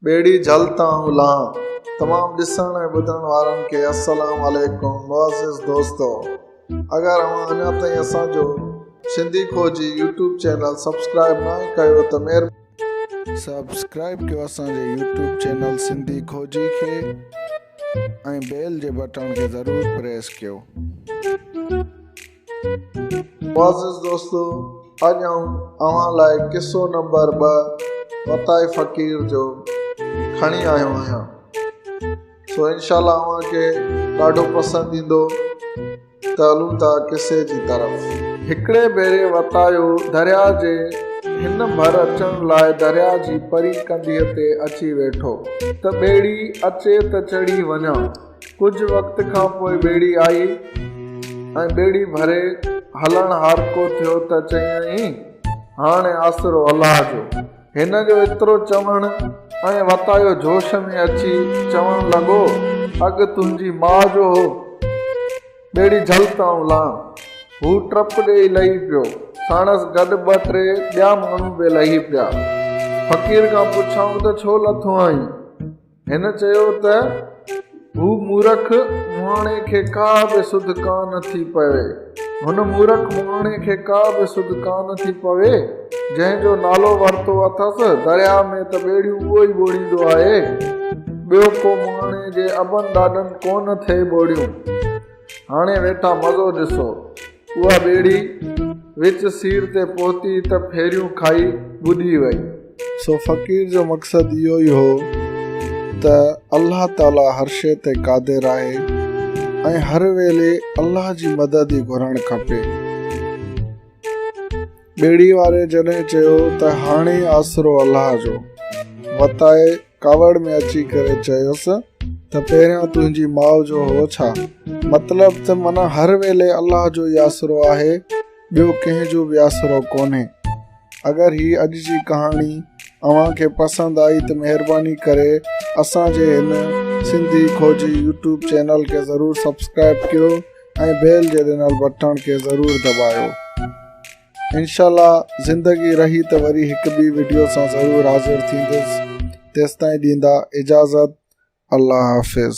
ٻيڙي جهل تان الاهان. تمام ڏسڻ ۽ ٻڌڻ وارن کي السلام عليڪم معزز دوستو اگر اوهان اڃا تائين اسان جو Sindhi Khoji YouTube channel subscribe ناهي ڪيو ته مهرباني سبسڪرائب ڪيو اسان جي يوٽيوب چينل سنڌي کوجي کي ۽ بيل جي بٽڻ کي ضرور پريس ڪيو. معزز دوستو اڄ آئون اوهان لاء قصو نمبر ٻه متاع فقير جو کڻي آيو آهيان سو انشاء الله اوهان کي ڏاڍو پسند ايندو ته هلون ٿا قصي جي طرف هڪڙي ڀيري وتايو درياء جي هن ڀر اچڻ لاء درياء جي پري ڪنڌيء تي اچي ويٺو ته ٻيڙي اچي ته چڙهي وڃان ڪجهه وقت کان پوء ٻيڙي آئي ۽ ٻيڙي ڀري هلڻ هارڪو ٿيو ته چيائين، هاڻي آسرو الله جو. هن جو ايترو چوڻ ۽ وتايو جوش ۾ اچي چوڻ لڳو، اڳ تنهنجي ماء جو هو، ٻيڙي جهل ته آئون لهان. هو ٽپ ڏيئي لهي پيو. ساڻس گڏ ٻه ٽي ٻيا ماڻهو به لهي پيا. فقير کان پڇيائون ته ڇو لٿو آهين؟ هن چيو ته هو مورک مهاڻي کي ڪا به سڌ ڪانه ٿي پوي، هن مورک مهاڻي کي ڪا به سڌ ڪانه ٿي پوي، جنهن جو نالو ورتو اٿس، درياء ۾ ته ٻيڙيون اهو ئي ٻوڙيندو آهي، ٻيو ڪو مهاڻي جي ابن ڏاڏن ڪونه ٿئي ٻوڙيون. هاڻي ويٺا مزو ڏسو. اها ٻيڙي وچ سير تي پهتي ته ڦيريون کائي ٻڏي وئي. سو فقير جو مقصد اهو ئي هو ته الله تعاليٰ هر شيء تي قادر آهي ۽ هر ويلي الله جي مدد ئي گهرڻ کپي. ٻيڙي واري جڏهن چيو ته هاڻي آسرو الله جو. وتائي ڪاوڙ ۾ اچي ڪري چيس ته پهريان تنهنجي ماء جو هو ڇا؟ مطلب ته من هر ويلي الله جو ئي آسرو آهي، ٻيو ڪنهن جو به آسرو ڪونهي. اگر هي اڄ جي ڪهاڻي اوهان کي پسند آئي ته مهرباني ڪري اسان جي هن سنڌي کوجي يوٽيوب چينل کي ضرور سبسڪرائب ڪيو ۽ بيل جي ڏنل بٽڻ کي ضرور دٻايو. انشاء الله زندگي رهي ته وري هڪ ٻي وڊيو سان ضرور حاضر ٿيندس تيستائين ڏيندا اجازت الله حافظ.